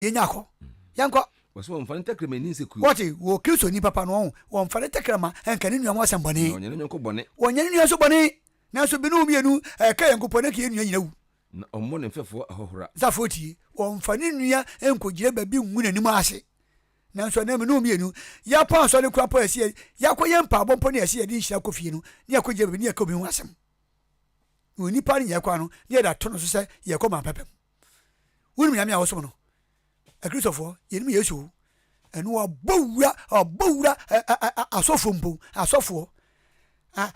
yɛnya kɔ yɛnkɔ wɔsɛ wɔmfa ne tɛkrɛma ani nsɛ kuo wɔte wɔ kristo ni papa no ɔho wɔmfa ne tɛkrɛma ɛnka ne nua ho asɛm bɔne ɔnyɛ ne nyɔnko bɔne wɔnyɛ ne nua nso bɔne nanso binom mmienu ɛka yɛn nkopɔ ne ka yɛn nua nyina wu na ɔmmɔ ne mfɛfoɔ ahɔhora safo tie wɔmfa ne nua nkɔgyina baabi ngu n'anim ase nanso ɛnɛ mene mmienu yɛapɔ asɔre kora mpo ɛsɛ yɛakɔ yɛ mpaabɔ mpo ne ɛsɛ yɛde nhyira kɔ fie no ne yɛkɔgyina baabi ne yɛka obi ho asɛm na onipa no nyɛ kwan no ne yɛda to no so sɛ yɛkɔ ma pɛpɛm Wonim Nyame a wɔsom no. Akristofoɔ, yɛnim Yesu o. Ɛno ɔbɔ wura, ɔbɔ wura asɔfoɔ mpo, asɔfoɔ.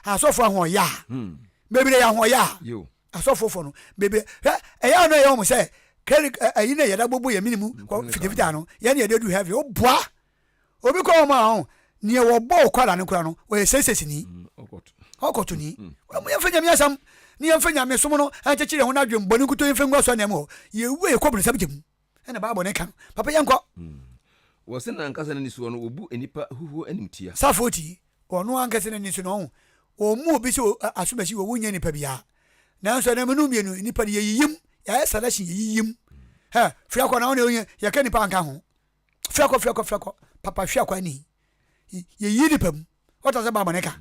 Asɔfoɔ ahoɔyɛ a. Hmm. Bebree yɛ ahoɔyɛ a. Asɔfoɔ fɔ no, bebree. Ɛyɛ ano ɛyɛ wɔn sɛ, kɛri ɛyi na yɛda bobo yɛ minimu, fitafita no, yɛn yɛde du heaven, o boa. Obi kɔ hɔn a ɔho neɛ wɔbɔ okwara no kora no ɔyɛ sɛsɛsini, ɔkɔtoni. Wɔ mu yɛmfa Nyame asɛm ne yɛmfa Nyamesom no nkyekyere yɛn ho na adwen bɔne nkutoo yɛmfa ngu asɔre nan mu hɔ. Yɛwu a yɛkɔ bonsam gya mu ɛna Bible no ka no. Papa yɛnkɔ. Wɔ se no ankasa n'ani soɔ no wɔbu nnipa huhuo animtia. Safoɔ tie, wɔ ɔno ankasa n'ani so no ɔho wɔmmu obi sɛ asomasi wɔ wonnyɛ nnipa biara. Nanso ɛnam nom mmienu nnipa no yɛyiyim, yɛayɛ selection yɛyiyim. Hɛ, firi akɔ na wo na ɔnyɛ, yɛka nnipa anka ho. Fiakɔ fiakɔ fiakɔ papa hwɛ akwa ni yɛyi nipa mu wata sɛ baabɔ ne ka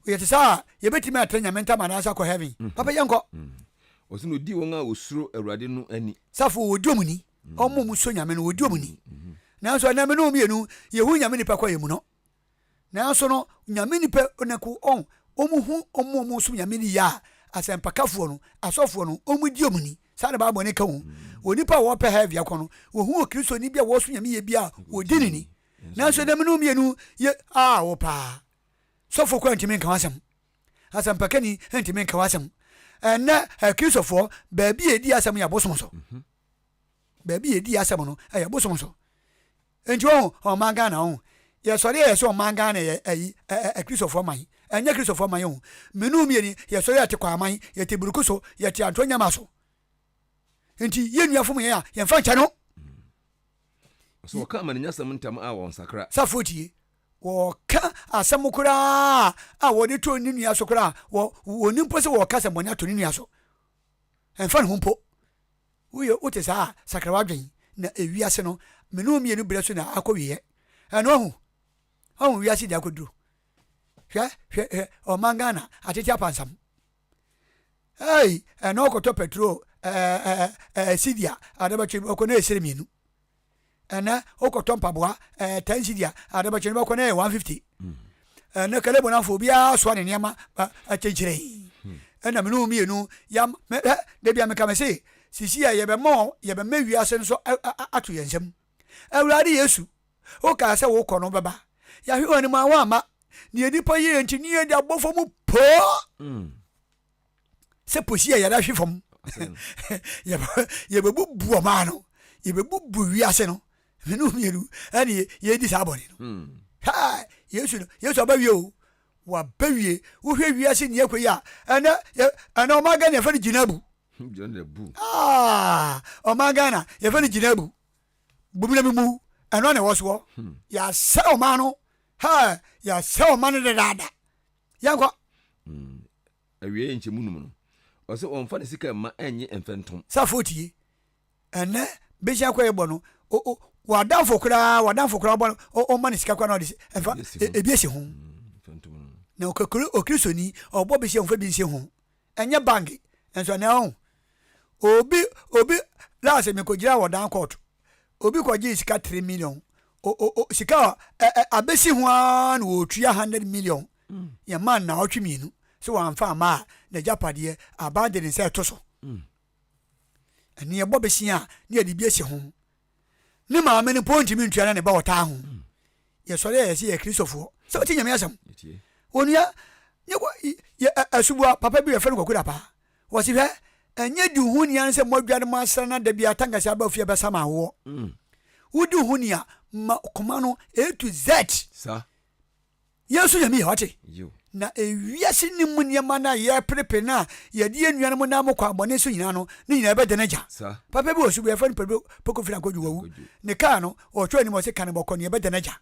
yɛte sɛ a yɛbɛtumi atra nyame ntam anaasɛ akɔ heaven mm-hmm. papa yɛnkɔ mm-hmm. ɔsɛ na ɔdi wɔn a wɔsuro awurade no ani safo wɔdi ɔm ni mm-hmm. ɔmo mu so nyame no wɔdi ɔm ni nanso ɛnam no mmienu yɛhu nyame nipa kɔ yɛ mu no Naaso no, Nyame nyimpa ɔnanku on wɔn hu wɔn a wɔsom Nyame no yie a, asɛmpakafoɔ no, asɔfoɔ no, wɔn di wɔn ni. Saa na Bible no ka o. Wɔ nyimpa a wɔpɛ hɛɛvia kɔ no, wɔhu wɔ Kristoni bi a wɔsom Nyame yie bi a, wɔdi no ni. Naaso dɛm no mmienu yɛ awo paa. Sɔfo koraa nntumi nka ho asɛm. Asɛmpakani nntumi nka ho asɛm. Ndɛ Akristofoɔ, baabi a yɛdi asɛm no yɛ abosom so. Baabi a yɛdi asɛm no yɛ abosom so. Nti wohu ɔman Ghana wohu yɛsɔre a yɛse ɔman Ghana yɛ ayi Kristofoɔ man ɛnyɛ Kristofoɔ man wohu mene wo mieni yɛsɔre yɛte Kwaman yɛte Buruku so yɛte Anto Nyama so nti yɛn nua fom yɛn a yɛnfa nkyɛ no Sɛ wɔka amaninyasɛm ntam a wɔnsakra. Safoɔ tie wɔka asɛm koraa a wɔde to ne nua so koraa a wɔnim mpo sɛ wɔka sɛ bɔne ato ne nua so ɛmfa ne ho mpo. Woyɛ wo te saa a, sakra w'adwene na ewiase no, me ne wo mmienu berɛ so na akɔ wieɛ. Ɛno ahu, ahu wiase deɛ akɔduro. Hwɛ, hwɛ, hwɛ, ɔman Ghana, atete apansam. Hey, ɛno ɔkɔtɔ petrol, ɛɛ, ɛɛ, ɛɛ, sidi a, adabɛtwe, ɔkɔ na ɛsere mmienu. ɛnɛ wokɔtɔ mpaboa ɛɛ ten cedi a adabɛkyɛ no bɛkɔ no yɛ one fifty hmm. ɛnɛ kalebo no afɔ obiara soa ne nneɛma akyɛnkyerɛ yi hmm. ɛna mene wo mmienu yam mɛ da bia meka me se sisi yɛ yɛbɛma yɛbɛma wiase nso ato yɛn nsam awurade yesu wokaa sɛ wokɔ no bɛba yɛahwe wɔn anim a wɔama deɛ nipa yɛ nti ne yɛde abɔfo mu poo hmm. sɛ posi a yɛda hwe fam yɛbɛbubu ɔmaa no yɛbɛbubu wiase no mene mmienu ɛne yɛdi saa bɔne no hmm. yesu no yesu abɛwie o wabɛwie wohwɛ wiase nea ɛkɔ yi a ɛnɛ ɛnɛ ɔma ghana yɛfɛ no gyina bu ah, ɔma ghana yɛfɛ no gyina bu bumina mi mu ɛno na ɛwɔ soɔ hmm. yɛasɛ ɔma no yɛasɛ ɔma no dadaada yɛnkɔ. Mm, awieɛ nkyɛ mu num no. Ɔsɛ ɔmfa ne sika mma ɛnye mfɛ ntom. Sa foot yi, ɛnɛ bɛhyia kɔ yɛbɔ no, o o, w'adamfo koraa, w'adamfo koraa ɔbɔ no, o ɔmma ne sika koraa na ɔde ɛfa, ebi ɛhyɛ ho. Mm, mfɛ ntom no. Na ɔkakuri, ɔkristoni, ɔbɔ bɛhyia ɔmfa bi nhyɛ ho. Ɛnyɛ bange nso na ɔho. Obi obi last me kɔgyina wɔ down court obi kɔgyee sika three million o o o sika a ɛ ɛ abɛsi ho ara na wɔtua hundred million mm. yɛn mmaa nnaawɔtwe mmienu sɛ wɔamfa ama a n'agyapadeɛ aban de ne nsa ɛto so ɛne ɛbɔ bɛsia a ne yɛde bi asi ho Ne maame no mpo ntumi ntua na ne ba ɔtaa ho. Yɛsɔre a yɛse yɛyɛ Kristofoɔ. Sɛ wote Nyame asɛm. Onua, nyɛ kɔ, yɛ asubua papa bi yɛfrɛ no Kwaku Dapaah. Wɔse hwɛ, ɛnyɛ di wo ho ni ara sɛ mmɔdwa no mu asra na da biara tankasia aba ofie bɛsa ma awoɔ. Wodi wo ho ni a, ma koma no A to Z. Sa. Yɛn nso Nyame yɛ, wate? Na ewiase no mu nneɛma no a yɛreperepere no a yɛde yɛn nuanom nam mo kwan bɔne so nyinaa no, ne nyinaa bɛda no agya. Papa bi wɔ so bi a yɛfrɛ no Pedro Poco Fina Kojo, wawu. Ne kaa no, ɔtwerɛɛ anim ɔse, Ka no bɔkɔ, nea ɛbɛda no agya.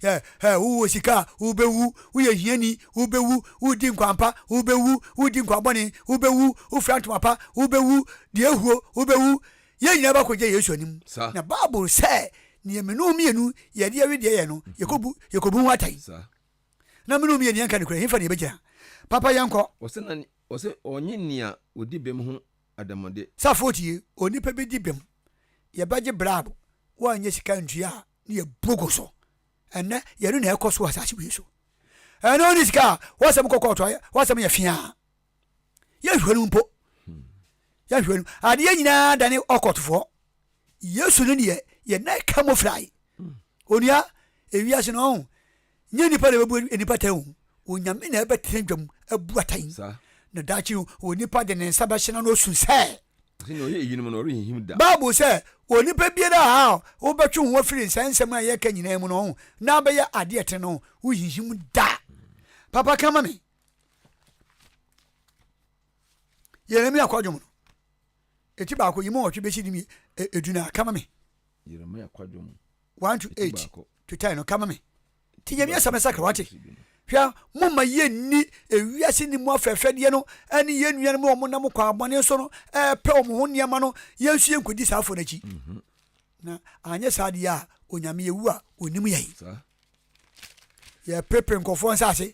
Yɛ, hɛ, wowɔ sika a, wobɛwu, woyɛ hiani, wobɛwu, wodi nkwanpa, wobɛwu, wodi nkwanbɔne, wobɛwu, wofira ntoma pa, wobɛwu, deɛ ahuo, wobɛwu. Yɛn nyinaa ba kɔgyina Yesu anim, na Bible sɛ nea me ne wo mmienu yɛde yɛ wedeɛ yɛ no, yɛkɔbu, yɛkɔbu ho atɛn. Na me ne wo mmienu yɛnka nokorɛ, hefa na yɛbɛgyina? Papa yɛnkɔ. Ɔsɛ na, ɔsɛ ɔnye nea ɔdi bem ho adamɔde. Safoɔ tie, onipa bi di bem, yɛbɛgye brab, woanyɛ sika antua a, ne yɛbu gu so. Ɛnnɛ, yɛno na ɛrekɔ so wɔ asase wei so. Ɛno ne sika a, w'asɛm kɔ kɔɔto a, w'asɛm yɛ feaa. yɛhwɛ no mpo yɛhwɛ no adeɛ nyinaa dane ɔkɔtofoɔ yesu no deɛ yɛna ɛka mu frae onua ewiase no ɔho nyɛ nipa na ɛbɛbu nipa tan o onyame na ɛbɛtena dwam abu atan na daakye no onipa de ne nsa bɛhyena no osu sɛ bible sɛ onipa biara a wobɛtwe ho afiri nsa nsɛm a yɛka nyinaa mu no ɔho na abɛyɛ adeɛ tene no wohinhim da papa ka ma me Yeremia kwadwom no, eti baako yi mu ɔtwe besi di mi edu na kama mi. Yeremia kwadwom. One to eight to ten no kama mi. Ti yɛ mi asɛm ɛsɛ kɛ wate. Hwɛ mo ma yɛ ni ewiase ni mu afɛɛfɛ deɛ no ɛne yɛ nua no mu wɔn nam kɔ abɔne so no ɛɛpɛ wɔn ho nneɛma no yɛn nso yɛn kodi saa afɔ n'akyi. Mhm. Na anyɛ saa deɛ a onyame ewu a onim yɛn. Yɛ pepere nkɔfoɔ nsaase.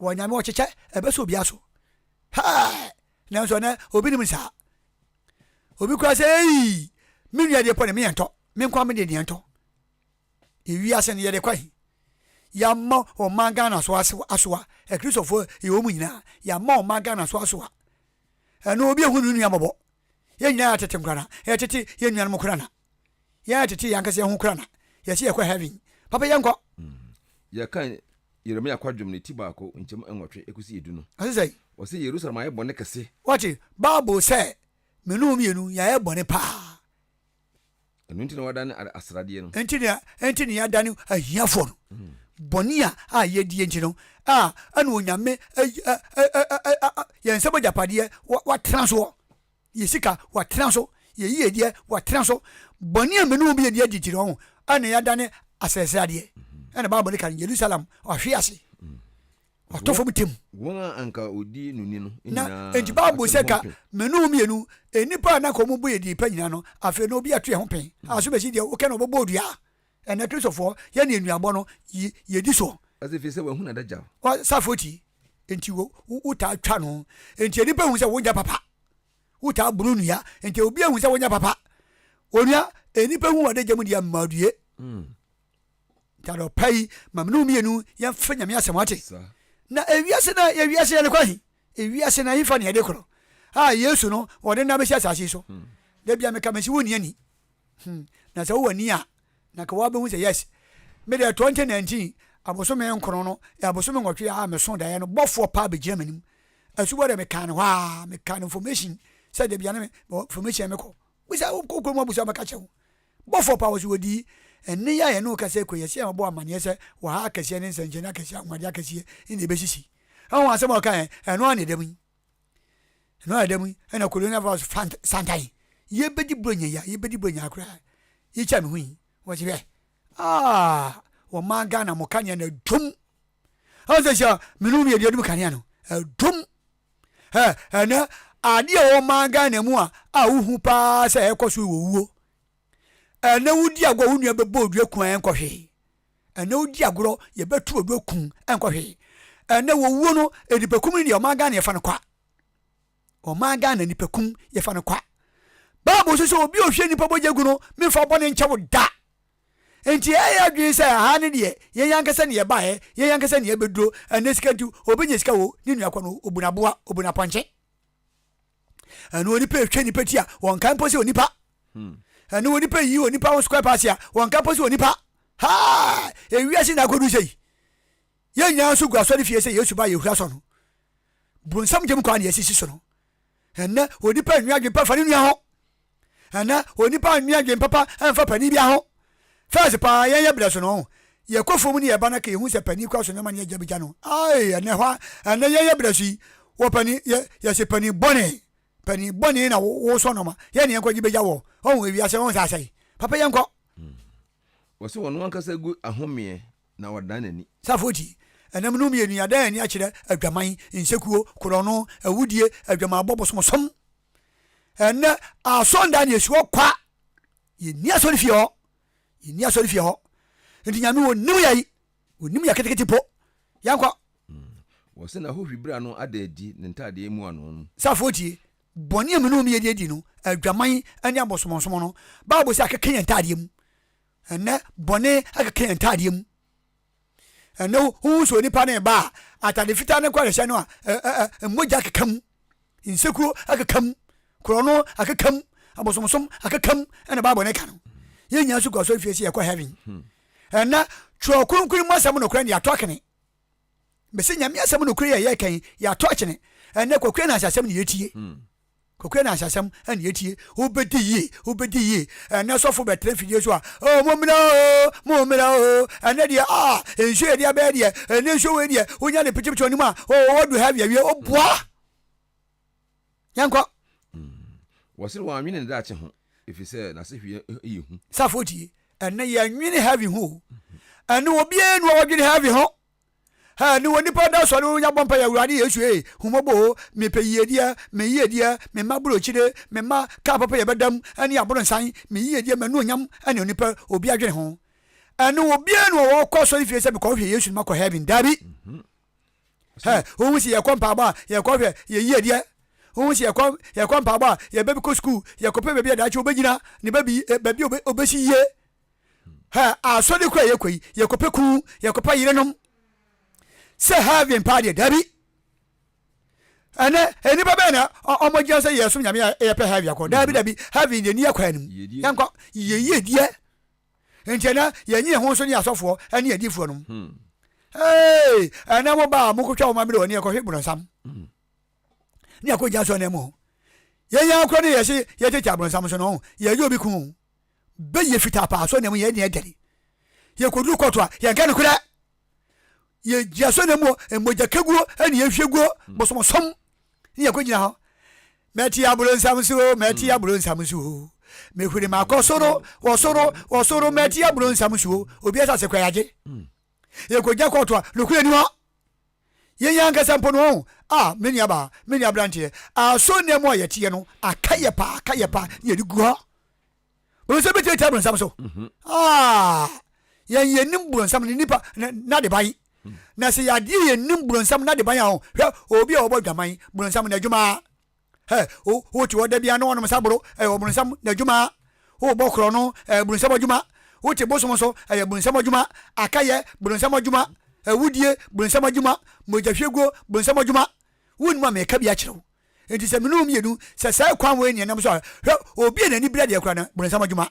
Wɔ Nyame wɔ kyekyɛ ɛbɛ so obia so Hɛɛɛɛ nanso ɛnɛ obi nim saa Obi koraa sɛ eii me nua deɛ pɔ ne me yɛntɔ Me nkoa me deɛ ne yɛntɔ Ewiase no yɛde kɔ he Yɛama ɔman Ghana so asoa Akristofoɔ yɛ wɔn nyinaa Yɛama ɔman Ghana so asoa Ɛno obi ahu ne nua mmɔbɔ Yɛn nyinaa yɛ atete nkorana Yɛtete yɛn nuanom nkorana yɛ tete yɛn ankasa yɛn ho kura na yɛsi yɛkɔ heaven papa yɛn kɔ. Mm. yɛka yeremia kwadwom ne ti baako nkyɛm nwɔtwe ɛkɔsi edu no ɔse sɛ ɔse yerusalem ayɛ bɔne kɛse wɔte bible sɛ mene wo mmienu yɛayɛ bɔne paa ɛno nti na wadane asradeɛ no ɛnti ne ɛnti ne yɛadane ahiafoɔ no mm. bɔne a a yɛdie nti no a ɛne onyame yɛn nsɛm agyapadeɛ watena soɔ Yɛ sika wɔ tena so, yɛ yiedie wɔ tena so, bɔne a mene wo beyɛ deɛ gyegyiri wɔn, ɛna yɛadane asɛse adeɛ, ɛna Bible no ka no, Yerusalem ɔhwe ase, ɔtɔ fam tɛm. Wɔn a anka wɔdi no ni no nyinaa atwe ne ho pɛn. Enti Bible sɛ ka mene wo mmienu, nnipa a na anka wɔn bo yɛ deɛ pa nyinaa no, afei no obiara twe ho pɛn, aso bɛsi deɛ wokɛ no ɔbɛbɔ dua, Ɛnɛ Kristofoɔ yɛ ne nnuanbɔ no yɛdi soɔ. Ɔse firi sɛ wahunu adagyaw. Ɔ sa foti nti wo wo taa twa no nti nnipa hu sɛ wo nyɛ papa wo taa bunu nua nti obi ahu sɛ wo nyɛ papa onua nnipa hu ɔde gya mu deɛ mmaa due ntade ɔpa yi ma mene mmienu yɛmfa nyame asɛm ate na ewiase na ewiase yɛde kɔ he ewiase na hefa ne yɛde korɔ a yesu no ɔde nna bɛsi asase so hmm. da bia meka mesi wo nni ani Hmm, na sɛ wowɔ ani a, na nka woabehu sɛ yes, me deɛ 2019 abosome nkron no yɛ abosome nwɔtwe a meso daeɛ no bɔfoɔ paa bɛgyina m'anim. Asubɔ deɛ mekaa no hɔ a, mekaa no information sɛ da bia ne me, mewɔ information mekɔ. Bisa wokɔ kurom abusa bɛka kyɛ wo. Bɔfoɔ paa wɔ so wɔdii. Ɛnne yi a yɛne wo kasa kura yɛsi a mabɔ amaneɛ sɛ wɔ ha akɛseɛ ne nsɛnkyerɛnne akɛseɛ, anwanwadeɛ akɛseɛ ne ɛbɛsisi. Ho asɛm a ɔkaeɛ, ɛno ara na ɛda mu yi. ɛno a ɛda mu yi ɛna colonial virus fant santan yɛbɛdi buronya yi a yɛbɛdi buronya koraa yɛkyɛ a mehu yi wɔsi hwɛ aa wɔmaa ghana mo kanea na dwom ɛsɛ sɛ mene wo mmiɛdeɛ dum kanea no ɛdwom ɛ ɛnɛ adeɛ a wɔmaa ghana mu a a wohu paa sɛ ɛkɔ so wɔ wuo ɛnɛ wodi agorɔ wo nua bɛbɔ odua kwan nkɔhwee Ɛnnɛ wodi agorɔ, yɛbɛtu w'adu aku wo, ɛnkɔ hwee. Ɛnnɛ wɔwuo no, nnipakum no deɛ ɔman Ghana yɛfa no kwa. Ɔman Ghana nnipakum yɛfa no kwa. Bible nso sɛ obi a ɔhwie nnipa bɔgya gu no, memfa bɔne nkyɛ wo da. Nti yɛyɛ adwene sɛ aha no deɛ yɛn ankasa ne yɛbaeɛ, yɛn ankasa ne yɛbɛduro, ɛnnɛ sika nti, ɔbɛnya sika o, ne nua kɔ no, ɔbu no aboa, ɔbu no apɔnkye. ɛne onipa ɛtwa nipa ti a wɔnkae mpo sɛ onipa hmm. ɛne onipa yi onipa ho square pass a wɔnkae mpo sɛ onipa ha ewiase na akɔdu sɛ yi yɛn nyinaa nso gu asɔre fie sɛ yesu ba yɛhura sɔ no bronsam gyem kwan na yɛsisi so no ɛnɛ onipa nnwa adwempa fa ne nua ho Ana onipa nwe adwen papa mfa panin bia ho? First paa yɛn yɛ brɛso no yɛkɔ fom ne yɛba na ka yɛhu sɛ panin kura so nnoɔma ne yɛgya bɛgya no aii ɛnɛ hɔ ɛnɛ yɛn yɛ brɛso yi wɔ panin yɛ yɛse panin bɔne panin bɔne na wo sɔ nnoɔma yɛn ne yɛnkɔ gye bɛgya wɔ ɔhu ewiase ɔhu sɛ asɛe papa yɛnkɔ hmm. wɔse wɔn ankasa gu ahomeɛ na wɔdan n'ani safoti ɛnam no mmienu yɛadan ani akyerɛ adwaman nsekuo korɔno awudie adwamaabɔ bosomsom Ɛnnɛ asɔndan na yɛsi hɔ kwa. Yɛnni asɔrefie hɔ. Yɛnni asɔrefie hɔ. Nti Nyame ɔnim yɛ yi. Ɔnim yɛ ketekete po. Yɛnkɔ. Mm. Wɔ sɛ na hɔ hwi bra no ada adi ne ntaadeɛ mu ano no. Safoɔ tie. Bɔne a mene wɔn yɛ de adi no, adwaman ne abɔsomɔnsomo no, Bible sɛ akeka yɛn ntaadeɛ mu. Ɛnnɛ bɔne akeka yɛn ntaadeɛ mu. Ɛno ho sɛ onipa no reba a, atade fitaa no nkwarehyɛ no a mogya keka mu, nsekuro akeka mu, korɔno akeka mu, abosomsom akeka mu ɛna Bible no ka no. Yɛn nyinaa nso gu asɔre fie sɛ yɛkɔ heaven. Hmm. Ɛnɛ twerɛ kronkron mu asɛm nokorɛ no yɛatɔ akene. Bɛsɛ nyame asɛm nokorɛ yɛ yɛkɛn yɛatɔ akyene. Ɛnɛ kwakuo na asasɛm ne yɛtie. Hmm. Kokoa na Asasam na yɛtie. Wobɛdi yie, wobɛdi yie. Ɛnɛ sɔfo bɛtena mfidie so a, oh, mommra oo, mommra oo. Ɛnɛ deɛ, ah, nsuo yɛde abɛyɛ deɛ, ɛnɛ nsuo wei deɛ, wonya ne pitipiti w'anim a, oh, wadu ha awie, woboa. Yɛnkɔ. Mm. Wɔse wɔanwene ne daakye ho, ɛfiri sɛ n'asehweɛ yɛ hu. Safo tie, ɛnɛ yɛnwene heaven ho o. Ɛnɛ obiara nu a ɔdwene heaven ho. Ɛ ne wɔ nipa da sɔre nya bɔ mpaeɛ awurade yesu ee hu mɔbɔ o me pɛ yiedie me yiedie me mma burokyire me mma kaa papa yɛ bɛdam ɛne aboronsan me yiedie mɛ nuonyam ɛne onipa obi adwene ho ɛne wɔ bie no wɔ kɔ asɔre fie sɛ mekɔ hwɛ yesu no makɔ heaven dabi hɛ ohun si yɛkɔ mpaabɔ a yɛkɔ hwɛ yɛ yiedie ohun si yɛkɔ yɛkɔ mpaabɔ a yɛbɛbi kɔ sukuu yɛkɔ pɛ baabi a daakye obɛgyina ne baabi baabi obɛsi yie ha a asɔre kɔ a yɛkɔ yi yɛkɔpɛ kuu yɛkɔpɛ yerenom sɛ heaven paa deɛ dabi ɛnɛ nnipa bɛyɛ na ɔmo gyina sɛ yɛsom nyame a yɛpɛ heaven akɔ dabi dabi heaven deɛ ni akɔ anim yɛnkɔ yɛyie deɛ nti ɛnɛ yɛnyi yɛn ho nso ne asɔfoɔ ɛne adiifoɔ nom hmm. ee ɛnɛ mo baa mo kotwa wɔn amere wɔ ne yɛkɔhwe borɔnsam hmm. ne akɔ gya so ɛnɛ mo yɛnyɛ akora ne yɛse yɛtete aborɔnsam so no yɛyɛ obi kun bɛyɛ fitaa paa asɔre na mu yɛ ne yɛ dɛre yɛ kɔduru kɔɔto a yɛn kɛ no korɛ yɛ gyi asɔre na mu mmɔgya kaguo ɛne yɛ hwɛ guo mm. bɔsɔmɔsɔm ne yɛ kɔ gyina hɔ mɛte aburo nsam so mɛte mm. aburo nsam so mehuri ma kɔ soro wɔ soro wɔ soro mɛte aburo nsam so obi asase kɔ yagye yɛ kɔ gya kɔɔto a nokura ni hɔ Yɛn ankasa mpo no, ɔn, ah, me nuabaa, me nuabranteɛ, asɔre nna mu a yɛteɛ no, aka yɛ paa, aka yɛ paa, na yɛde gu hɔ. Bɛhu sɛ bɛtumi atia bronsam so. Mhm. Ah, yɛn yɛnim bronsam ne nipa n'adeban. Mhm. Na sɛ yɛadeɛ yɛnim bronsam n'adeban a, hwɛ, obi a ɔbɔ dwaman, bronsam n'adwuma. Ɛ o wote hɔ da biara na wɔnom saboro, ɛyɛ ɔbronsam n'adwuma. Wobɔ korɔno, ɛyɛ bronsam adwuma. Wote bosom so, ɛyɛ bronsam adwuma. Akayɛ, bronsam adwuma. Awudie, bronsam adwuma. Mogyahwieguo, bronsam adwuma. Wonnim a meka bi akyerɛ wo. Enti sɛ mene wo mmienu, sɛ saa kwan wei ne ɛnam so a, hwɛ, obi a n'ani bere adeɛ koraa no, bronsam adwuma.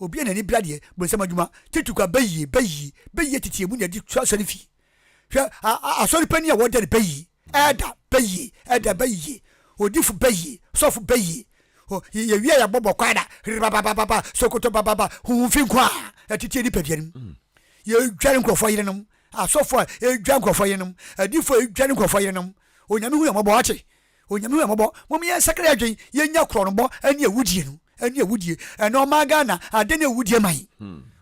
Obi a n'ani bra deɛ, bonsam adwuma, tete kwa bɛyie, bɛyie, bɛyie tete emu na ɛde tu asɔre fie. Hwɛ, a, a, asɔre panin a wɔda no bɛyie, ɛɛda bɛyie, ɛɛda bɛyie, odifo bɛyie, sɔfo bɛyie, o, yɛ, yɛwie a yɛabɔ bɔkwae da, rebabababa, sokoto bababa, huhu fi nko a, ɛtete nipadua no mu. Yɛdware nkurɔfoɔ yerenom, asɔfoɔ a ɛdwa nkurɔfoɔ yerenom, adifoɔ a ɛdware nkurɔfoɔ yerenom, Onyame hu yɛn mmɔbɔ, wate? Onyame hu yɛn mmɔbɔ mom yɛn sakra yɛn adwen yɛn nya krɔnbɔ ɛne awudie no ɛne awudie ɛnɛ ɔmaa Ghana adɛn ne awudie man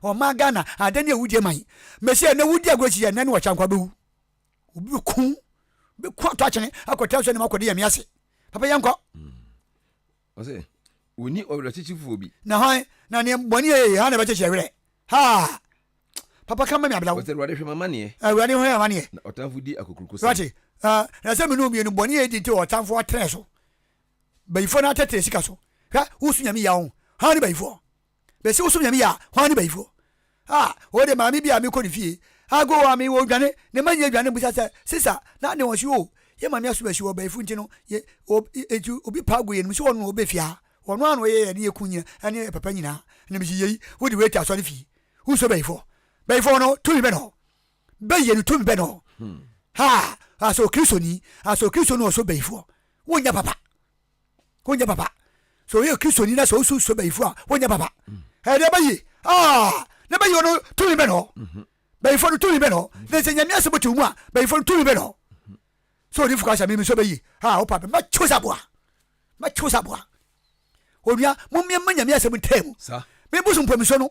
ɔmaa Ghana adɛn ne awudie man mɛsi ɛnɛ wudi agorɔ si ɛnɛ ne wɔkyɛ nkwa bɛwu obi bɛ kun bɛ kun ato akyene akɔtena so ɛnɛ akɔde yɛn ase papa yɛn kɔ. Ɔse, Wonni ɔwerɛkyekyefoɔ bi. Na hwan na neɛ bɔne a yɛyɛ ha na ɛbɛkyekye yɛwerɛ? Haa! Papa ka ma me ablaw. Ɔse, Awurade hwɛ m'amaneɛ. Awurade hwɛ m'amaneɛ. Na ɔtamfo di akokuroko sɛn. Wate? Haa! Na sɛ mene omienu bɔne a yɛdi nti ɔtamfo atrɛ so. Bayifoɔ no atrɛtrɛ sika so. Hwɛ, wosu Nyame yea o. Hwan ne bayifoɔ? Mese wosom Nyame yie a, hwan ne bayifoɔ? Ah, wɔ de maame bi a mekɔ ne fie, ago a mewɔ odwane, ne mma nyinaa dwane no bisa sɛ, Sesa, na ne wɔn se, Oh, yɛn maame asom asi wɔ bayifo nti no, yɛ, o, enti obi pa ago yɛnnim sɛ ɔno na ɔbɛ fie ha. Ɔno ara na ɔyɛ yɛn ne yɛn kunu nyinaa ne yɛn papa nyinaa. Na mese, Yei, wo de wei te asɔre fie. Wonsɔ bayifoɔ. Bayifoɔ no, tumi bɛn na ɔwɔ? Bayie no, tumi bɛn na ɔwɔ? Hmm. Ha, asɛ ɔkristoni, asɛ ɔkristoni na ɔsɔ bayifoɔ. Wonnyɛ papa. wonyɛ papa sɛ ɔyɛ kristoni na sɛ wosu nsɔ bayifo a wonyɛ papa ɛde ɛbɛ yie aa na bɛyi ɔno tumi bɛ nɔ bayifo no tumi bɛ nɔ na sɛ nyame asɛm te wo mu a bayifo no tumi bɛ nɔ sɛ ɔde fuka sɛ mimi sɔ bɛyi a wopa bɛ mɛkyew sɛ aboa mɛkyew sɛ aboa onua momeɛma nyame asɛm ntaa mu meboso mpɔmisɔ no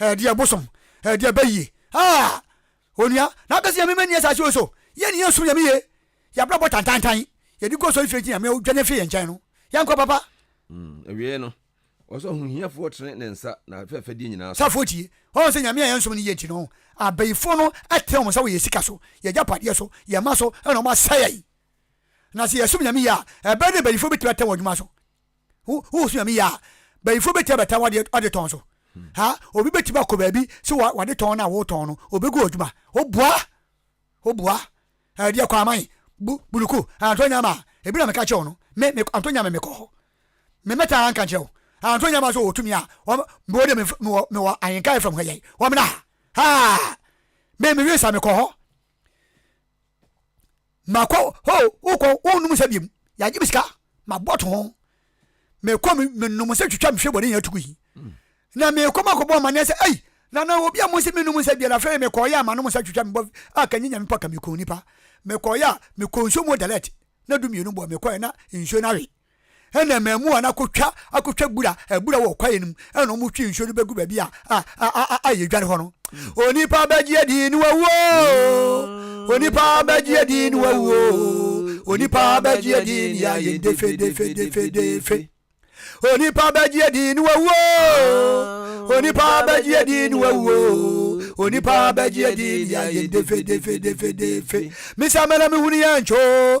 Ɛdeɛ bosom ɛdeɛ bɛ yie haa onua na bɛ se nyame mɛni asase wei so yɛ ne yɛn som nyame yie yabrabɔ tantantan yɛde gu ɔsɔre fie nti nyame odwane firi yɛn nkyɛn no yɛn kɔ papa. Mm, awieɛ no, ɔsɛ ɔho hiafoɔ tene ne nsa na afɛfɛdeɛ nyinaa so. Safoɔ tie, ɔho sɛ nyame a yɛn som no yie nti no, abayifoɔ no tene wɔn nsa wɔ yɛn sika so, yɛn agyapadeɛ so, yɛn mma so, ɛna wɔn asɛe yɛn. Na sɛ yɛsom nyame yie a, ɛbɛyɛ dɛ bayifoɔ bɛtumi atene wɔn adwuma so. Wo wo so nyame yɛ a banyinfoɔ bɛtumi abɛta wo adeɛ ɔde tɔn so ha obi bɛtumi akɔ baabi sɛ wa wade tɔn na wotɔn no obɛgu ɔdwuma oboa oboa ɛdeɛ eh, kɔ aman bu buluku antɔ nyama a ebi na meka kyerɛ wo no me me antɔ nyama mekɔ hɔ me mɛta anka kyerɛ wo antɔ nyama so wɔtumi a wɔn mewɔ de mewɔ mewɔ ahenka fam hɔ yɛn wɔn na ha ha me mewie sa mekɔ hɔ makɔ ho wokɔ wonum sɛ biom yɛagye me sika mabɔto ho mekɔ menom sɛ twitwa mehwɛ bɔne nyina tugu yi mm. na mekɔ makɔbɔ amanneɛ sɛ ei na na obi a mo sɛ menom sɛ biara afei mekɔyɛ a manom sɛ twitwa mebɔ a kanyɛ nyame pa ka mekɔ nipa mekɔyɛ a mekɔ nsuo mu dalet na du mmienu bɔ mekɔɛ na nsuo no awe ɛna mmaamua no akɔtwa akɔtwa bura abura wɔ kwaeɛ no mu ɛna wɔn twi nsuo no bɛgu baabi a a a a a yɛdware hɔ no onipa bɛgyeɛ din no wawuo onipa bɛgyeɛ din no wawuo onipa bɛgyeɛ din ne ayɛ defedefedefedefe onipa bɛgyeɛ din no wawuo onipa bɛgyeɛ din no wawuo onipa bɛgyeɛ din ne ayɛ defedefedefedefe mesɛ mɛna mehunu yɛ nkyoo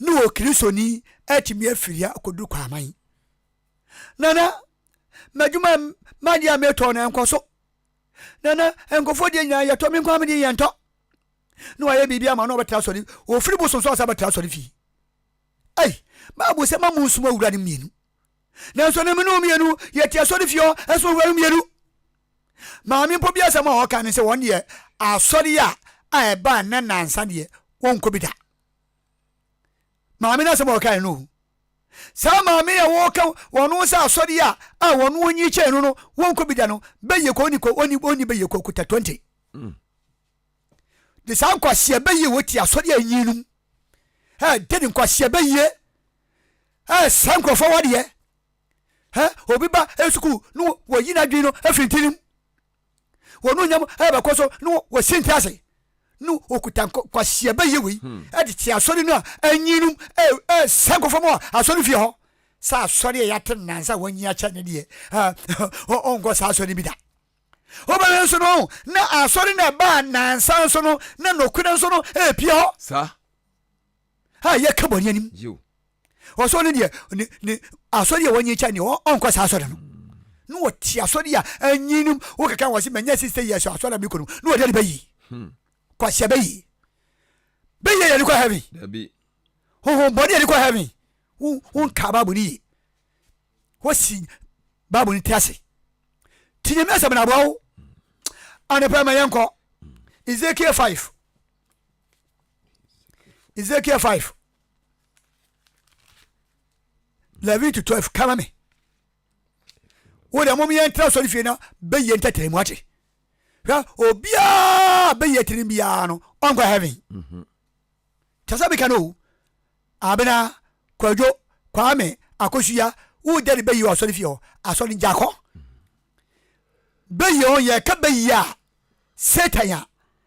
No o Kristoni atumi afiri ha akɔduru Kwaman. Nana, m'adwuma a m'adeɛ a metɔɔ no ɛnkɔ so. Nana, nkurɔfoɔ deɛ nyinaa yɛtɔ, me nko ara me deɛ yɛntɔ. Na wayɛ biribi ama na ɔbɛtra asɔre, ɔfiri bosom so asa bɛtra asɔre fie. Ei, Bible sɛ ma monsom awura no mmienu. Nanso na me ne wɔn mmienu yɛte asɔre fie hɔ ɛsom awura no mmienu. Maame mpo bi asɛm a ɔka ne sɛ wɔn deɛ asɔre a a ɛbaa nnɛ nansa deɛ wɔnkɔ bi da. Maame no asɛm a ɔkae no ohu. Saa maame yi a wɔka wɔn ho sɛ asɔre a a wɔn ho nyi kyɛn no no, wɔnkɔ bi da no, bɛyɛ kɔ ɔni kɔ ɔni ɔni bɛyɛ kɔ kuta twenty. Mm. De saa nkwaseɛ bɛyɛ wɔ ti asɔre a enyi no mu. Ɛ de ne nkwaseɛ bɛyɛ ɛ saa nkurɔfoɔ wadeɛ. Ɛ obi ba ɛ sukuu no wɔyi n'adwene no afiri ntirim. wɔn onyam ɛbɛkɔ so na wɔsi nte ase no okuta nkwasia bɛyɛ wei hmm. ɛde te asɔre no a anyinum ɛsɛ nkɔfam a asɔre fie hɔ sɛ asɔre a yɛate nansa wɔnyi akyɛ ne deɛ ɔnkɔ saa asɔre bi da wobɛhwɛ nso no na asɔre na ɛbaa nansa nso no na nokore nso no ɛpie hɔ a yɛka bɔne anim. Ɔsɛ ɔno deɛ ne ne asɔre a wɔnye kyɛ deɛ ɔnkɔ saa asɔre no. Na wɔte asɔre a anyi no wokeka wɔ se manya sista yi ɛsɛ asɔre a mekɔ no na wɔde ne bɛyi. Hmm. Kwahyɛ bɛyi. Bɛyɛ yɛ ne kɔ heaven. Dabi. Honhom bɔne yɛ ne kɔ heaven. Wonka Bible no yie. Wosi Bible no ti ase. Ti nyame asɛm na aboa wo. Anɔpa ma yɛnkɔ. Ezekiel 5. ezekiel 5 levit 12 kama me wo deɛ mom yɛntra sɔre fie na bɛyɛ ntɛtɛrɛ mu ate hwɛ obiaa bɛyɛ tirim biaa no ɔnkɔ heaven mhm. kyɛ sɛ meka no o abena kwadwo kwame akosua wo dɛde bɛyi wɔ asɔre fie hɔ asɔre gyakɔ bɛyɛ ho yɛka bɛyi a satan a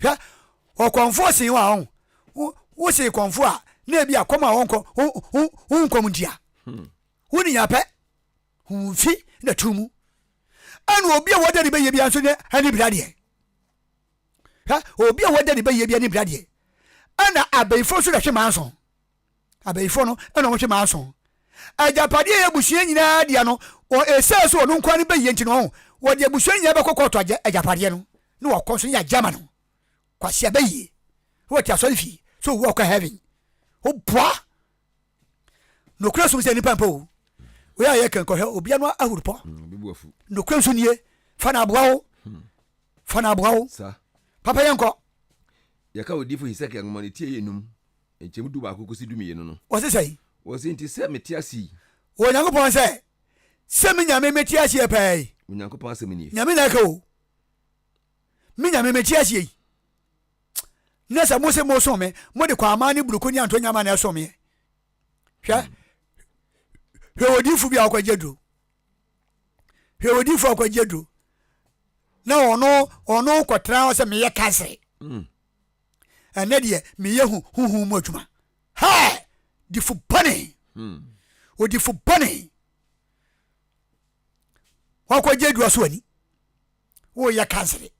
hwɛ ɔkɔmfoɔ see wo a ɔn wo see kɔmfoɔ a na ebi akɔm a wɔnkɔ wo nkɔm ntia hmm. wo ne yɛn apɛ ho mfi na tu mu ɛna obi a wɔda ne bɛyɛ bia nso ne ɛne bra deɛ hwɛ obi a wɔda ne bɛyɛ bia ne bra deɛ ɛna abɛnfo nso na hwe maa nso Abayifoɔ no na wɔhwɛ maa so. Agyapadeɛ a ɛyɛ abusua nyinaa dea no, ɛsiane sɛ ɔno nko ara ne ba yie nti no, wɔde abusua no nyinaa bɛkɔ kɔɔto agya agyapadeɛ no na wɔakɔ nso ne agya ama no. Kwasi abayie. Na wɔte asɔre fie. Sɛ owu a ɔkɔ heaven. Woboa. Nokorɛ som sɛ nipa mpo o. Wei a yɛka nkɔhwɛ obia no ahuru pɔ. Mm, Nokorɛ nso nie. Fa na aboa wo. Hmm. Fa na aboa wo. Papa yɛnkɔ. Yɛka odifo Hesekiel nwoma no ti ɛyɛ num. Nkyɛmu dubaako kɔsi dumienu no. Ɔse sɛi. Ɔse nti sɛ mete ase yi. Wɔ Onyankopɔn sɛ, sɛ me Nyame mete aseɛ paa yi. Onyankopɔn asɛm nie. Nyame na ɛka o. Me Nyame mete aseɛ yi. Na sɛ mose mosom me, mode kwaamaa ne buruku ne antonyama na ɛsom meɛ. Hwɛ. Hwɛ odiyifo bi a ɔkɔgye aduro. Hwɛ odiyifo a ɔkɔgye aduro. Na ɔno ɔno kɔtra hɔ sɛ meyɛ kansere. Mm. ɛnɛ deɛ meyɛ hu honhom mu adwuma ha difo bɔne hmm. odifo bɔne wakɔgye adua so ani woyɛ kansere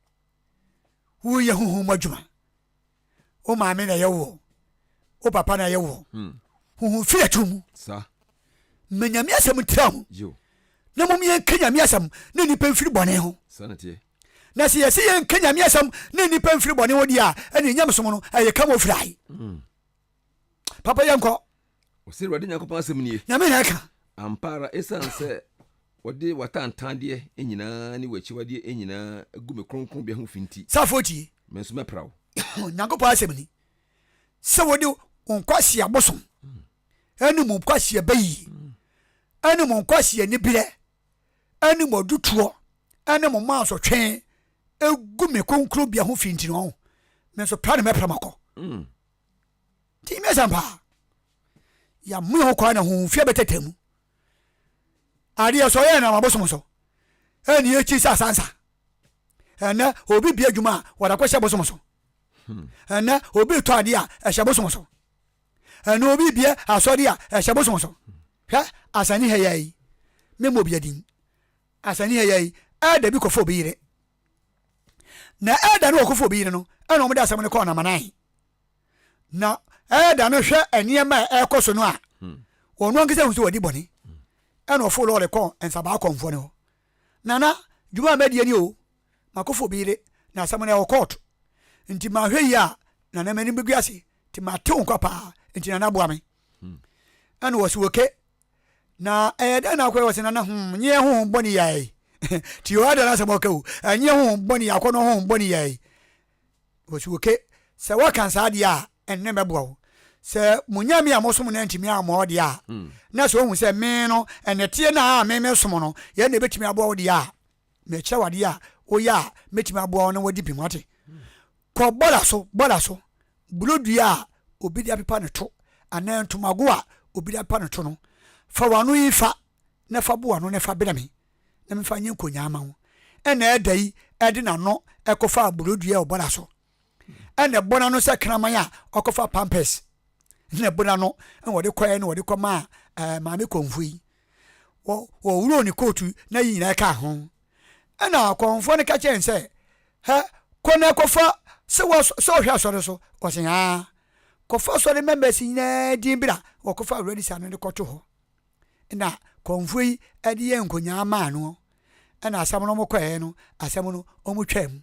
woyɛ honhom mu adwuma wo maame na ɛyɛ woɔ wo papa na ɛyɛ woɔ hmm. honhom firi atoro mu ma nyame asɛm ntra ho na mom yɛnka nyame asɛm na nnipa mfiri bɔne ho Na sɛ yɛsi yɛn nka nyame asɛm ne nnipa mfiri bɔne ho deɛ a ɛne ɛnyam som no ɛyɛ ka mofirae mm. papa yɛ nkɔ ɔsɛ awurade nyankopɔn asɛm nie nyame na ɛka ampa ara ɛsiane sɛ wɔde watantadeɛ nyinaa ne wakyiwadeɛ nyinaa gu me kronkronbea ho fi nti safo tie me nso mɛpra wo nyankopɔn asɛm ni sɛ wode wo nkwaseɛ abosom ɛne mu nkwaseɛ bayi ɛne mu nkwaseɛ ne berɛ ne mo adutoɔ ne mo mansotwe gu me kronkronbea ho fi nti no, me nso pra ne mɛpra makɔ. Mm. Nti me asɛm paa. Yɛamoa ho kwan na homfia bɛtɛtɛ mu. Adeɛ sɛ ɔyɛ nam abosom so. Ɛne yɛkyi sɛ asansa. Ɛnɛ obi bia adwuma a wɔde akɔhyɛ bosom so. Hmm. Ɛnɛ obi tɔ adeɛ a ɛhyɛ bosom so. Ɛno obi bie asɔre a ɛhyɛ bosom so. Hwɛ asani ha yi, me mɔ obia din. Asani ha yi, elder bi kɔfa obi yere. Na elder no ɔkɔfa obi yere no, ɛna wɔn de asɛm no kɔɔ Namanan. Na elder no hwɛ nneɛma a ɛkɔ so no a, wɔn hmm. ankasa hu sɛ wɔdi bɔne. Hmm. Ɛna ɔfo lɔɔre kɔɔ Nsabaa kɔnfoɔ no hɔ. Nana, dwuma a mɛdeɛ ni o. M'akofo bi yere na asɛm no ɛwɔ kɔɔto nti manhwɛ yie a Nana m'anim bɛgu ase nti matew nkwa paa nti Nana boa me. Ɛna wɔ se oke na ɛyɛ dɛn na akɔyɛ wɔ se Nana hmm nyeɛ honhom bɔne yɛ ɛɛi nti o ada n'asɛm ɔka o ɛnyeɛ honhom bɔne yɛ akɔnɔ honhom bɔne yɛ ɛɛi wɔ se oke sɛ woaka saa deɛ a ɛnne mɛboa wo sɛ mo nyame a mosom no antumi ammɔ wo deɛ a na sɛ ohu sɛ me no ɛnɛteɛ no a me mesom no yɛ na ɛbɛtumi aboa wo deɛ a mekyerɛ wo adeɛ a woyɛ a mɛtumi aboa wo na woadi bem wate kɔ bɔda so bɔda so buro dua a obi de apepa ne to anaa ntomago a obi de apepa ne to no fa wano yi fa na fa bo ano na fa bena me na mefa nyɛ nkonyaa ma wo ɛna ɛda yi ɛde n'ano ɛkɔfaa buro dua wɔ bɔda so ɛna ɛbɔ n'ano sɛ kraman a ɔkɔfa pampers ɛna ɛbɔ n'ano ɛna wɔde kɔɛ na wɔde kɔ maa ɛɛ eh, maame kɔnfo yi wɔ wɔwuro ne kootu na yi nyinaa kaa ho ɛna kɔnfo no ka kyerɛ n sɛ hɛ kɔ na ɛkɔfa sɛ wɔ sɛ ɔhwɛ asɔre so wɔsɛ yaa kɔfa asɔre members nyinaa din bira wɔkɔfa awurade sa no de kɔto hɔ ɛna kɔnfo yi ɛde yɛ nkonyaa maa no ɛna asɛm no wɔkɔɛɛ no asɛm no wɔtwaa mu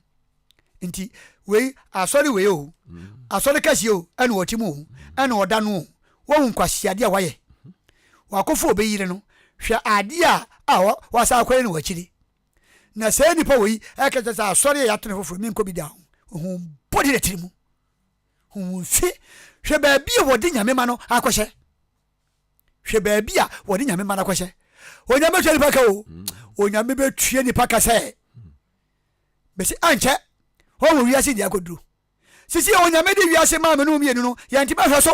nti wei asɔre wei o asɔre kɛseɛ o ɛna ɔte mu o ɛna ɔda no o wɔhu nkwasiadeɛ a wayɛ wakɔfo ɔbɛyire no hwɛ adeɛ a a wasa akɔyɛ no wakyire na sɛ nipa wei ɛka kyɛ sɛ asɔre a yɛato no foforɔ menkɔ bi da ho ɔhu bɔde na tiri mu hu mfe hwɛ baabi a wɔde nyame ma no akɔhyɛ Hwɛ baabi a wɔde nyame mma no akɔhyɛ. Onyame bɛtua nipa ka o. Onyame bɛtua nipa ka sɛ bɛsi ankyɛ wɔn wɔ wiase deɛ akɔduru. Sisi yɛ onyame de wiase maa mene mmienu no yɛnte bɛhwɛ so.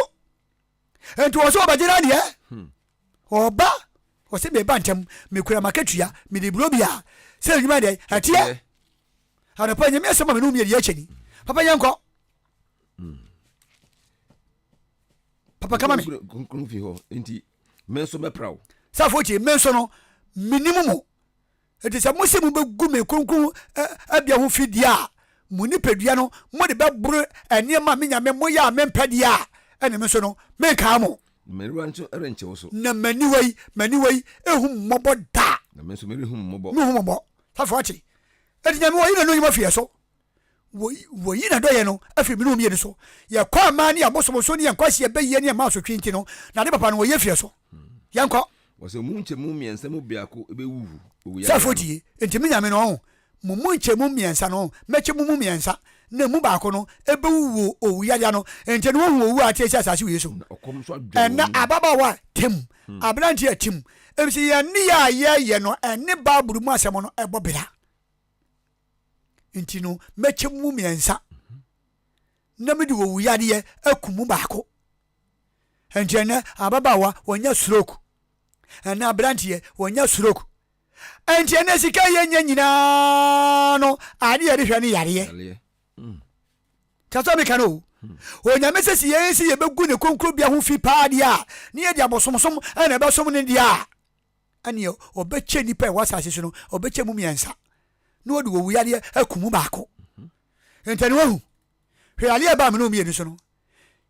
Nti wɔn so wɔbɛgye no adeɛ. Ɔba wɔsɛ meba ntɛm mekura makatua mede buro bia sɛ adwuma deɛ ɛteɛ. Anɔpa nyame asɛm ma mene mmienu yɛkyɛ ni. Papa yɛnkɔ. papa kama me kronkron fi hɔ nti me nso mɛpra wo safo tie me nso no menim mo ɛti sɛ mose mobɛgu me kronkron abia ho fi deɛ a mo nipadua no mode bɛboro nneɛma a me nyame moyɛ a mempɛ deɛ a ɛne me nso no menkaa mo mmerewa nso renkyɛ wo so na m'aniwa yi m'aniwa yi ɛhu mmɔbɔ da na me nso merehu mmɔbɔ mehu mmɔbɔ safo ate ɛti nyame wɔ yi na no nyuma fiyɛ so Wɔyi n'adɔeɛ no firi mene wɔn mmienu so. Yɛkɔ aman ne abosomso ne yɛn nkwasea bɛyie ne yɛn mma asotwe nti no, n'ade papa no wɔyɛ firi so. Yɛnkɔ. Wɔsɛ mu nkyɛmu mmiɛnsa mu biako bɛwuwu owuyare ano. Sɛ fotie, enti me Nyame no, ɔho, mo mu nkyɛmu mmiɛnsa no, mɛkyɛ mo mu mmiɛnsa, na emu baako no bɛwuwu owuyare ano, enti no wɔahu owu a ateɛ si asase wei so. Na ɔkɔm nso adwɔre wɔn mu. Ɛnna ababaawa a, tim, aberanteɛ a, tim, efisɛ yɛn nneyɛɛ a yɛyɛ no ne Bible mu asɛm no bɔ bra. nti no, mɛkyɛ mo mu mmiɛnsa na mede owuyadeɛ aku mu baako. Nti ɛnɛ ababaawa wɔnya stroke, ɛnɛ aberanteɛ wɔnya stroke. Nti ɛnɛ sika yɛnya nyinaa no adeɛ yɛde hwɛ ne yareɛ. Hmm. Kyɛ meka no o. Hmm. Onyame sɛ si yɛn si yɛbɛgu ne konkrobea ho fi paa deɛ a ne yɛde abosomsom ɛna ɛbɛsom ne deɛ a ɛnneɛ ɔbɛkyɛ nnipa a ɛwɔ asase so no ɔbɛkyɛ mu mmiɛnsa na ɔde owu yadeɛ aku mu baako ntɛne wahu hwɛ yadeɛ ɛbaa mene mmienu so no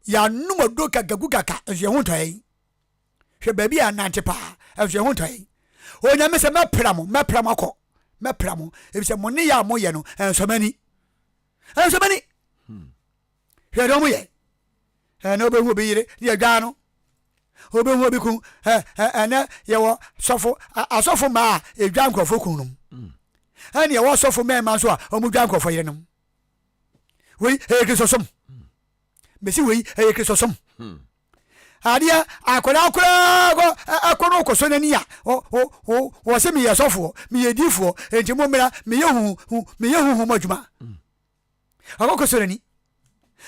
yɛanom ɔduro kagagu kaka nso yɛn ho ntɔ yɛn hwɛ baabi a nante paa nso yɛn ho ntɔ yɛn onyame sɛ mɛpra mo mɛpra mo akɔ mɛpra mo ebi sɛ mo ne yɛ a moyɛ no ɛnsɔmani ɛnsɔmani hmm. Hwɛ deɛ wɔyɛ. Ɛnɛ wobɛhu obi yere deɛ dwaa no. Wobɛhu obi kun. Ɛnɛ yɛwɔ sɔfo asɔfo mmaa a ɛdwa nkurɔfo kun nom. Mm. Ɛne ɛwɔ sɔfo mmarima nso a wɔn dwa nkurɔfo yere nom. Wei ɛyɛ kristosom. Mm. Mesi wei ɛyɛ kristosom. Mm. adeɛ akwadaa koraa kɔ ɛkɔ no kɔ so n'ani a wɔsɛ meyɛ sɔfoɔ meyɛ diifoɔ enti mo mmera meyɛ huhu meyɛ huhu mo adwuma Ɔkɔkɔsɔ n'ani,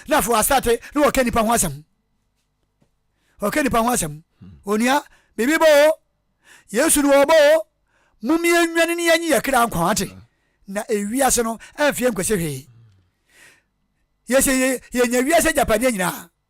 na afei wasate na wɔka nnipa ho asɛm. Wɔka nnipa ho asɛm. Onua, biribi bɔ o. Yesu no wɔbɔ o. Mom yɛnnwane ne yɛnye yɛ kra nkwa ate. Na ewiase no ɛmfeɛ nkwasi hwee. Yɛsɛ yɛnya wiase agyapadeɛ nyinaa.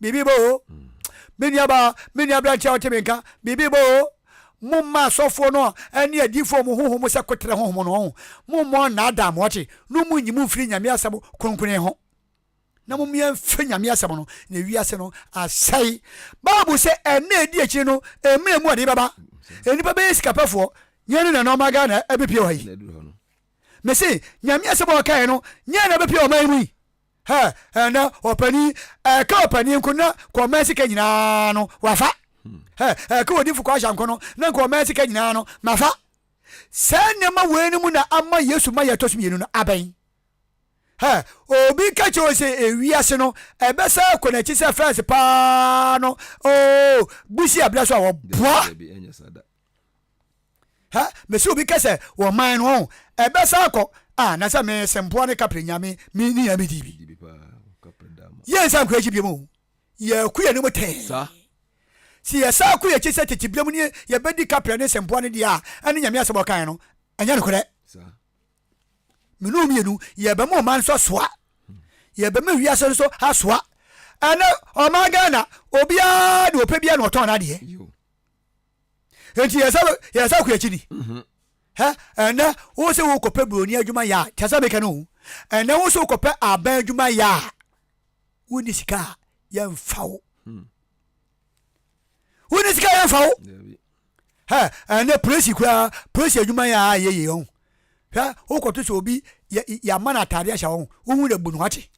Biribi bɔ o. Me nuabaa, me nua aberanteɛ a wote me nka, biribi bɔ o. Momma asɔfoɔ no ne adiyifoɔ mo honhom mo sɛ koterɛ honhom no, ɔho. Mommɔ nnaadaa mo, ɔte, no monnyi mo mfiri Nyame asɛm kronkron ho. Na mommia mfiri Nyame asɛm no, na wiase no asɛe. Bible se ɛnna a ɛdi akyire no, ɛmmerɛ mu ɔde bɛba. Nnipa bɛyɛ sikapɛfoɔ, nyɛ ne na nɔɔma gaa na ɛbɛpie wɔ ha yi. Mese, Nyame asɛm a ɔkaeɛ no, nyɛ na ɛbɛpie wɔ ɔman yi mu yi. Hɛ hɛ na ɔpanin ɛka ɔpanin nko na kɔ ɔman sika nyinaa no wafa hɛ ɛka odinfo kɔ ahyɛ nko no na nka ɔman sika nyinaa no mafa saa nneɛma wei no mu na ama yesu ma yɛtɔ so mmienu no abɛn hɛ obi ka kyerɛ sɛ ewiase no ɛbɛsa kɔ n'akyi sɛ fɛs paa no oo busi abira so a wɔboa ha mesi obi kɛsɛ wɔ man no ɔn ɛbɛ sa akɔ a na sɛ me sɛ mpoa ne kapre nyame me ni ya me di bi yɛ nsa nkɔ akyi bi mu yɛ ku yɛ ne mu tɛn si yɛ sa akɔ yɛ akyi sɛ tete bia mu ne yɛ bɛ di kapre ne sɛ mpoa ne di a ɛne nyame asɛm ɔkan no ɛnyɛ no korɛ menu mienu yɛ bɛ mu ɔman nso asoa yɛ bɛ mu wiase nso asoa ɛne ɔman Ghana obiara de ɔpɛ biara na ɔtɔn n'adeɛ nti yɛ sɛ yɛ sɛ kuyakyi ni mhm. hɛ ɛnɛ wo sɛ wo kɔpɛ buroni adwuma yɛ a kyɛ sɛ meka no ho ɛnɛ wo sɛ wo kɔpɛ aban adwuma yɛ a wonni sika a yɛmfa wo hmm. wonni sika yɛmfa wo hɛ ɛnɛ polisi koraa polisi adwuma yɛ a yɛyɛ ɔho Hwɛ wokɔto sɛ obi yɛama no atade ahyɛ wɔn wohu dɛ bu no wate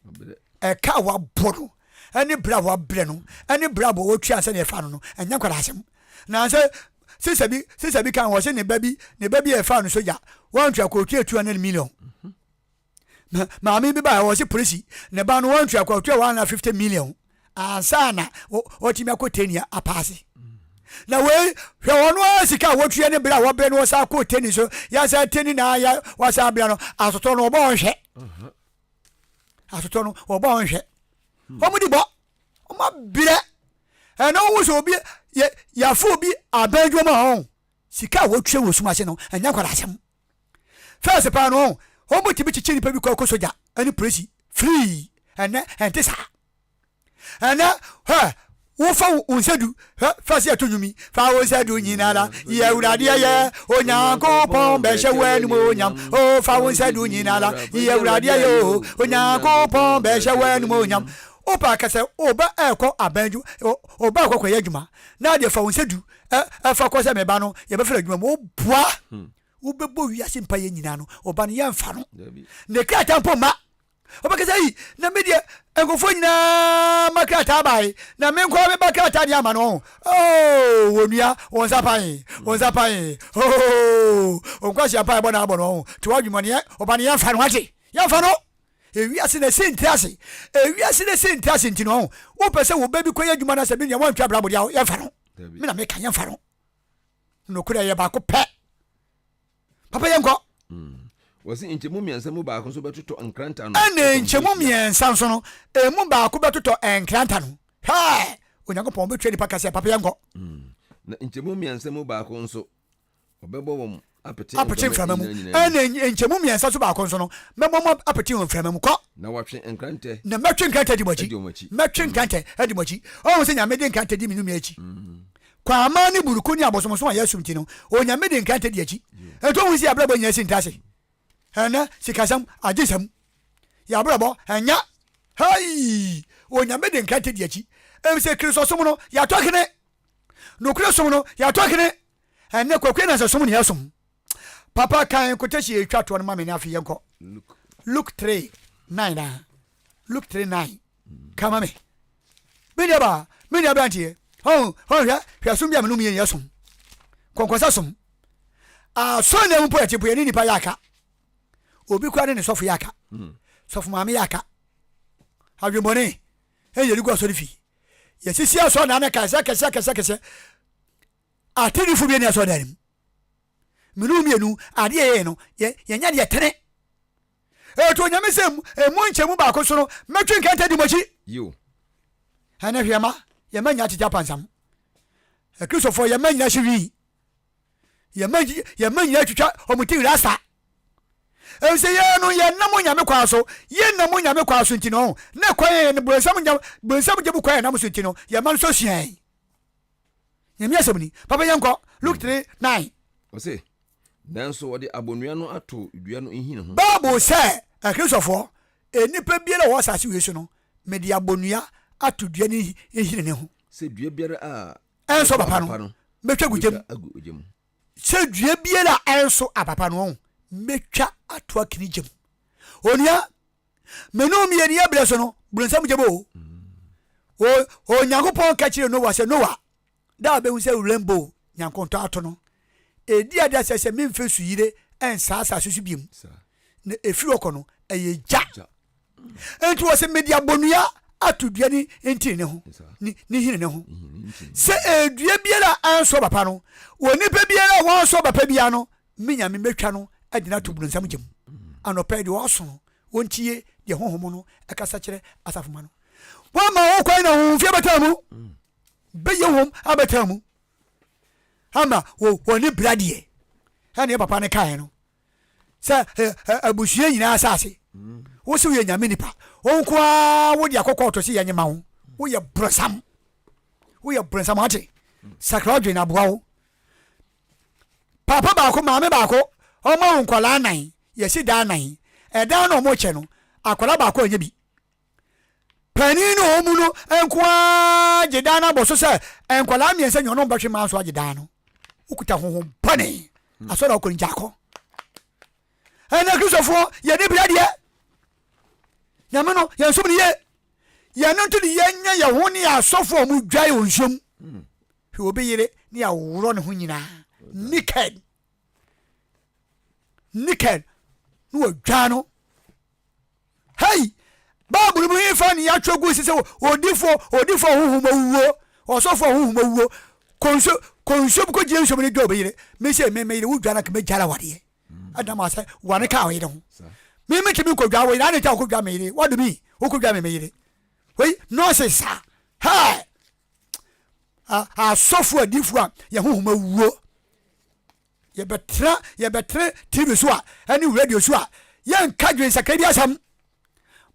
ɛka a wabɔ no ɛne berɛ a wabrɛ no ɛne berɛ a bɔ wɔtua sɛdeɛ ɛfa no no ɛnyɛ nkwadaa asɛm na sɛ sisa bi sisa bi kan wɔ sɛ ne ba bi ne ba bi a ɛfa no sogya wɔantua kɔtua 200 million Ma maame bi baeɛ ɔse polisi ne ba no wantua kɔ ɔtua 150 million ansa na ɔtumi akɔ teni apaase na wei hwɛ ɔno ara sika a wɔtua ne berɛ a wɔbrɛ no ɔsan kɔ teni so yɛasa teni na ya wasan brɛ no asotɔ no ɔbɔ ɔnhwɛ mhm. asotɔ no ɔbɔ ɔnhwɛ hmm. wɔn di bɔ wɔn abrɛ ɛna wɔn sɛ obi yɛ yɛafo obi abɛn dwom a ɔn sika a wɔtua wɔ sum ase no ɛnyɛ nkwadaa asɛm First paa no ɔn wɔn mo tumi kyekyɛ nipa bi kɔ ɛkɔ sogya ɛne polisi free ɛnɛ ɛnte saa ɛnɛ hɛ wofa wo nsa du hɛ first yɛ to nwumi fa wo nsa du nyinara yɛ wuradeɛ yɛ onyankopɔn bɛhyɛ wo anum onyam o fa wo nsa du nyinara yɛ wuradeɛ yɛ o onyankopɔn bɛhyɛ wo anum onyam wopa akasɛ oba ɛkɔ abɛn dwu oba ɛkɔ kɔyɛ adwuma na adeɛ fa wo nsa du ɛfa kɔ sɛ me ba no yɛbɛfrɛ adwuma mu woboa hmm. wobɛbɔ wiase mpa yɛ nyinaa no ɔba no yɛmfa no ne krataa mpo ma wobɛkɛ sɛ yi na medeɛ nkurɔfoɔ nyinaa ma krataa bae na menkɔ meba krataa deɛ ama no ɔho oh, wɔnua wɔ nsa pae wɔ nsa pae oh, ɔnkwasea mpa ɛbɔ no abɔ no ɔho to wadwumɔneɛ ɔba no yɛmfa no ate yɛmfa no ewiase na ɛsɛ ntira ase ewiase na ɛsɛ ntira ase nti no ɔho wopɛ sɛ wo bɛ bi kɔ yɛ adwuma no asɛ bi nea wɔntwa brabɔ deɛ yɛmfa no me na meka yɛmfa no nokorɛ yɛ baako pɛ papa yɛnkɔ mm. wɔsi nkyɛmu mmiɛnsa mu baako nso bɛtotɔ nkranta no ɛne nkyɛmu mmiɛnsa nso no ɛmu baako bɛtotɔ nkranta no hwɛ onyankopɔn wobɛtua nipa kasɛ papa yɛnkɔ mm. na nkyɛmu mmiɛnsa mu baako nso Wɔbɛbɔ wɔn apete mframa mu ɛne nkyɛmu mmiɛnsa so baako nso no, mɛbɔ mo apete wɔ mframa mu. Kɔ. Na wɔatwe nkrantɛ. Na mɛtwe nkrantɛ adi mo akyi. Mɛtwe nkrantɛ adi mo akyi. Ɔhu sɛ Nyame de nkrantɛ di me nnome akyi. Kwaamaa ne buruku ne abosomsom a yɛsom nti no, Onyame de nkrantɛ di akyi. Ɛnti ɔhu sɛ yɛabrabɔ nyinaa si ntaase. Ɛnɛ sikasɛm, agyesɛm, yɛabrabɔ ɛnyɛ. Hei! Onyame de nkrantɛ di akyi. Ɛfisɛ Kristosom no, yɛatɔ kene. Nokorɛ som no, yɛatɔ kene. Ɛnɛ kwakue na sɛ som ne yɛsom Papa kan kotasi ɛtwa toɔ no ma me ne afei yɛnkɔ Luke 3 9 na Luke 3 9 ka ma me Me nua baa me nua branteɛ Ɔn ɔn hwɛ hwɛ som bi a me no meyɛ yɛ som Kɔnkɔsa som Asɔre na mu po ɛte po yɛ ne nipa yɛ aka Obi kora ne ne sɔfo yɛ aka Sɔfo maame yɛ aka Adwembɔne ɛyɛ de gu asɔre fie Yɛsisi asɔre na anɛ kae sɛ kɛsɛ kɛsɛ kɛsɛ Atreneefo mmienu asɔredan no mu. Mene wɔn mmienu, ade a yɛyɛ no, yɛ, yɛnyɛ deɛ ɛtene. Ɛto Onyame sɛ ɛmu nkyɛmu baako so no, mɛtwe nkɛntɛ di mo akyi. Yiw. Ɛnɛ hwɛ, ma yɛn mma nnya tete apansam. Akristofoɔ, yɛn mma nnyina hye wii. Yɛn mma, yɛn mma nnyina twitwa wɔn ti rasta. Efisɛ yɛn no, yɛnam Onyame kwan so. Yɛnam Onyame kwan so nti no, ne kwan yɛn no, bonsam gya, bonsam gya mu kwan yɛnam so nti no, yɛn mma nso sua yɛn. Nyame asɛm ni. Papa yɛnkɔ, Luke three, nine. Ɔse, Nanso wɔde abonnua no ato dua no nhini ho. Bible sɛ, Akristofoɔ, nnipa biara a ɔwɔ asase wei so no, mede abonnua ato dua no nhini no ho. Sɛ dua biara a ɛnso apapa no, mɛtwa agu gya mu. agu ogya mu. Sɛ dua biara a ɛnso apapa no, ɔho, mɛtwa ato akini gya mu. Onua, Me ne wo mmieni yɛ berɛ so no, borɔnsam gyem o. O, Onyankopɔn ka kyerɛ Noa sɛ, Noa, da a bɛhu sɛ wuram bo nyankontɔ ato no, ɛdi ade asɛ sɛ memfa suyire nsaa asase so biom, na ɛfiri hɔ kɔ no, ɛyɛ gya. Enti wɔse mede abɔnua ato dua ne ntini ne ho, ne, ne nhini ne ho. Sɛ ɛdua biara a anso aba pa no, onipa biara a wanso aba pa biara no, me Nyame mɛtwa no de no ato borɔnsam gya mu. Anɔpa yi, deɛ ɔaso no, ɔntie deɛ honhom no kasa kyerɛ asafo mma no. Wɔama ho kwan na honhom fi abɛtena mu, bɛyɛ hom abɛtena mu, ama wɔ ne bra deɛ, ɛne yɛ papa no kaeɛ no, sɛ abusua nyinaa asase, wo se woyɛ Nyame nipa, wo nko ara wode akɔkɔ ɔtɔ se yɛnye ma wo, woyɛ borɔnsam, woyɛ borɔnsam, ate sakra adwene aboa wo. Paapa baako, maame baako, wɔn awo nkwadaa nnan, yɛsi dan nnan. Ɛdan no a wɔkyɛ no, akwadaa baako nyɛ bi. Panin ne wɔn mu no nko ara gye dan no abɔ so sɛ nkwadaa mmiɛnsa nyɛ ɔno bɛhwe mmaa so agye dan no. Wokuta honhom bɔne. Hmm. Asɔre a ɔkɔ no gya akɔ. Ɛnna Kristofoɔ yɛ ne bia deɛ. Nyame no, yɛn som no yie. Yɛn no nti de yɛnyɛ yɛn ho ne yɛn asɔfoɔ a wɔdwae wɔ nsuom. Hmm. Hwɛ obi yere ne a ɔworɔ ne ho nyinaa naked naked na wɔdwa no hei bible mu hefa ne yɛatwerɛ gu si sɛ odifoɔ odifoɔ honhom awuo ɔsɔfoɔ honhom awuo konso konso bi kɔgyina nsuom no dwa obi yere mesɛ me meyere wodwa no ka mɛgyara wadeɛ adam asɛ wane ka ɔyere ho me metumi nkɔdwa wo yere ane ta wokɔdwa me yere wadome wokɔdwa me me yere wei nonsense saa hɛ asɔfo adifo a yɛn honhom awuo yɛbɛtena yɛbɛtena tv so a ɛne radio so a yɛnka dwen sakra bi asɛm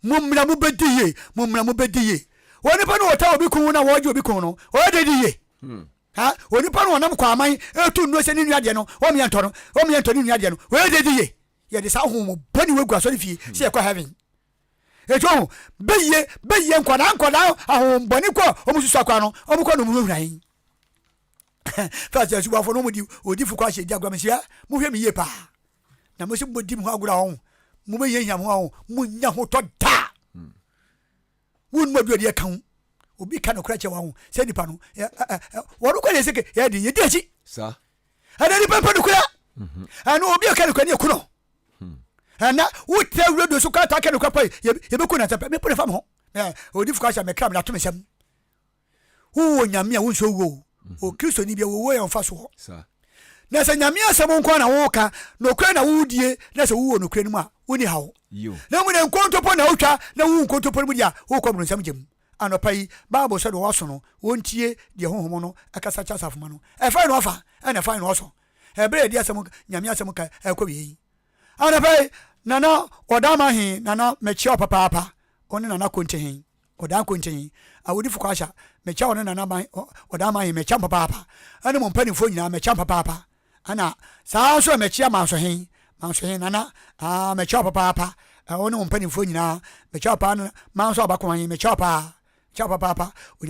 mo mmra mo bɛdi yie mo mmra mo bɛdi yie onipa no wɔta obi kun na wɔgye obi kun no ɔyɛ di yie hmm. ha onipa no ɔnam kɔ aman ɛtu nnuo sɛ ne nua deɛ no ɔmeɛ ntɔ no ɔmeɛ ntɔ ne nua deɛ no ɔyɛ di yie yɛde saa honhom bɔne wɔ gu asɔre fie sɛ yɛkɔ heaven Eti wɔn bɛyie bɛyie nkwadaa nkwadaa ahohombɔne kɔ a wɔn susu akwa no wɔn kɔ nom hurahura yi. Fɛs yɛ subuafo no wɔn di odifo kɔ ahyɛ di agorɔ mesia mo hwɛ mi yie paa na mo si mo di mo ho agorɔ ahɔn mo bɛ hiahia mo ahɔn mo nya ho tɔ daa wɔn mu aduadi ɛka ho obi ka no kora kyɛ wɔn ho sɛ nipa no wɔn kɔ yɛ sɛ yɛ de yɛ di akyi. Sa. ɛna nipa mpɛ nokora mhm. ɛna obi ɛka nokora ne ɛku no hmm. ɛna wotrɛ radio so kɔ ataka nokora pa yɛbɛku no nsɛpɛ mepo ne fa me ho ɔdi fo kasɛ mekra menato me sɛm wowɔ nyame a wonsɛ wuo mhm. o kristoni bia wɔwɔ yɛ mfa soɔ na sɛ nyame asɛm nko na woka nokora na wodie na sɛ wowɔ nokora no mu a woni haw na mu ne nkontopo na wotwa na wowu nkontopo no mu deɛ a wokɔ mmoronsam gyam Anɔpa yi, Bible sɛ deɛ wɔaso no, wɔntie deɛ Honhom no kasa kyerɛ asafomma no. Ɛfae no afa, ɛna ɛfae no ɔsɔ. Ɛberɛ a yɛde asɛm, Nyame asɛm ka rekɔ awieɛ yi. Anɔpa yi, Nana Ɔdaama he, Nana, mekyea wo papaapa, wo ne Nana Konte he, Ɔdaa Konte he, Awodifo Kwaasha, mekyea wo ne Nana Ɔdaama he, mekyea mo papaapa, ɛne mo mpaninfoɔ nyinaa, mekyea mo papaapa. Ana saa ara nso na mekyia Mansohe, Mansohe, Nana, aa, mekyia wo papaapa, ɛ, wo ne wo mpanimfoɔ nyinaa, mekyia wo paa, Nana, Manso Abakomahe, mekyia wo paa, mekyia wo papaapa, Onyankopɔn.